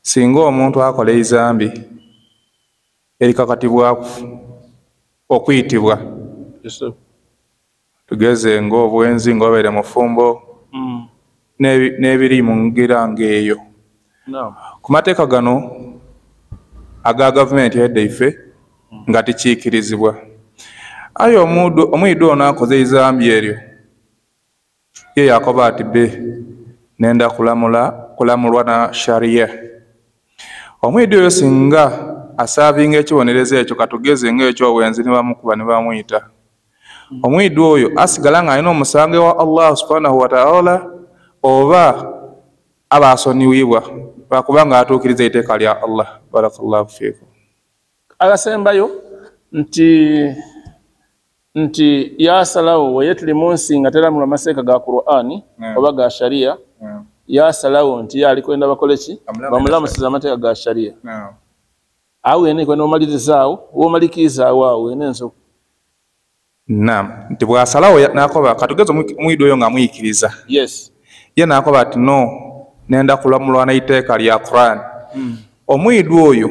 singa omuntu akola eizambi erikakatibwaku okuyitibwa tugeze ngaobwenzi ngaobeere mufumbo mm. n'ebiri mu ngira ngaeyo ku mateeka gano aga gavumenti edda ife mm. nga tikiikirizibwa aye omuyido ono akoze eizambi eryo Ye Yakobo ati be nenda kulamula kulamulwa na sharia. Omuyidi oyo singa asaavinga ekibonerezo ekyo katugeze nga ekyowenzi ne bamukuba ne bamuyita. Omuyidi oyo asigala ng'alina omusango ewa Allah subhanahu wa ta'ala oba aba asoniwibwa lwakuba ng'atuukiriza eiteeka lya Allah. Barakallahu fiikum. Agasembayo nti nti yasalawo weye tuli munsi nga teramulwa maseeka ga qurani oba ga sharia yasalawo nti yaali kwenda bakoleki bamulamusiza amateeka ga sharia awo ene kwenda omalirizaawo womalikiizaawo awo ene ensoku nam nti bwasalawo nakoba katugeza omwido oyo nga muyikiriza yes ye nakoba ati no nenda kulamulwa naiteeka lya quran hmm. omwido oyo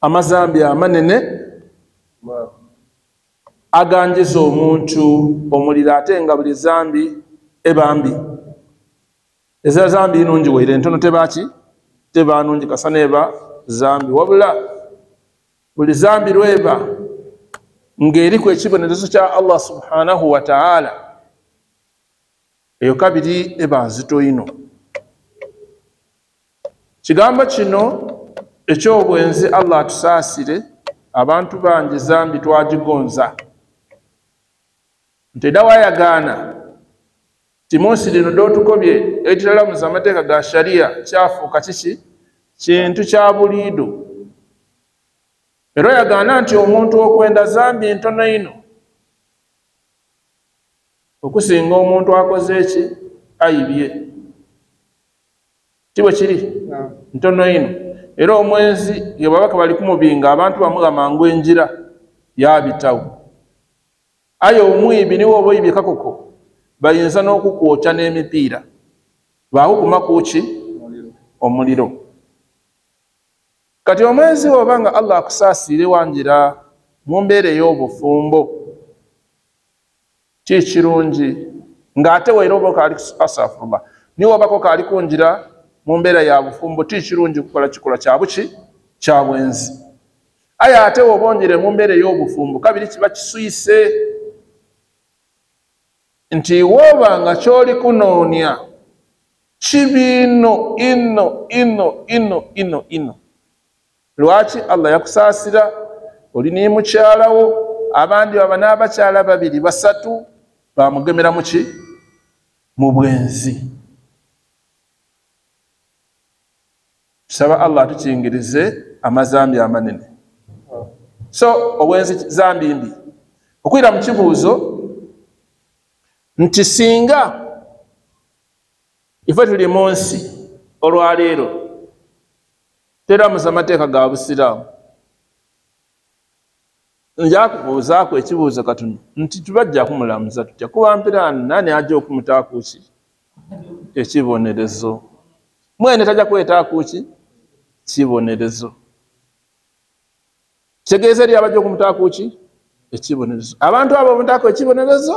amazambi amanene aganjiza omuntu omuliro ate nga buli zambi ebambi eza zambi inungi waire entono tebaki tebanungi kasana eba zambi wabula buli zambi lweba ng'eriku ekibonerezo kya allah subhanahu wataala eyo kabiri eba nzito ino kigambo kino ekyobwenzi allah atusaasire abantu bangi zambi twagigonza nti era wayagaana ti munsi lino dotukobye ekitalamuza amateeka ga shariya kyafuuka kiki kintu kya buliido era oyagaana nti omuntu okwenda zambi ntono ino okusinga omuntu akoze eki ayibye ti bwe kiri ntono ino era omwenzi ye babaka bali kumubinga abantu bamuga mangu enjira yabitawo aye omwibi niwe oba oyibye kakoko bayinza n'okukwokya n'emipiira baakukuma kuki omuliro kati omwenzi woba nga allah akusaasiire wanjira mu mbeera ey'obufumbo kyekirungi ng'ate waira oba okaali asafurullah niwe obako kaali kunjira mu mbeera ya bufumbo ti kirungi kukola kikola kyabuki kya bwenzi aye ate wobongere mu mbeera ey'obufumbo kabiri kiba kiswise nti woba nga kyoli kunoonya kibiino ino ino ino ino ino lwaki allah yakusaasira oli naye mukyalawo abandi baba n'abakyala babiri basatu bamugemera muki mu bwenzi tusaba allah atukingirize amazambi amanene so obwenzi zambi mbi okwira mu kibuuzo nti singa ife tuli mu nsi olwaleero teramuza amateeka ga busiraamu njakubuuzaako ekibuuzo katuni nti tubajja kumulamuza tutya kuba mpiraani nani ajja okumutaakuki ekibonerezo mwene tajja kwetaakuki kibonerezo kitegeeza eri abajja okumutaakuki ekibonerezo abantu abo omutaako ekibonerezo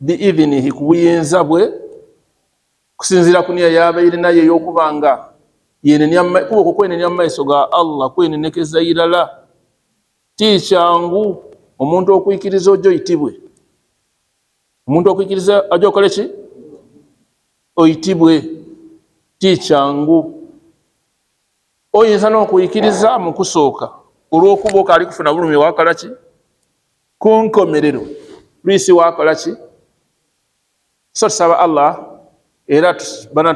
biidhinihi ku buyinza bwe kusinziira ku niya yabaire naye ey'okuba nga kuba okwo kwenenya mu maiso ga allah kwenenekeza irala ti kyangu omuntu okwikiriza ojo oyitibwe omuntu okwikiriza aja okole ki oyitibwe ti kyangu oyinza n'okwikiriza mu kusooka olw'okuba okaali kufuna bulumi wakala ki kunkomerero luisi wakola ki so tusaba allah era bana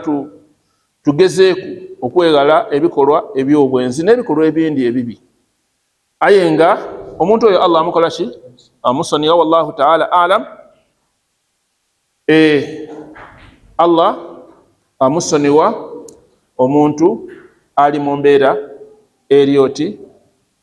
tugezeeku okweghala ebikolwa ebyobwenzi n'ebikolwa ebindi ebibi aye nga omuntu oyo allah amukola ki amusoniya wallahu taala alam eh, allah amusoniwa omuntu ali mu mbeera eryoti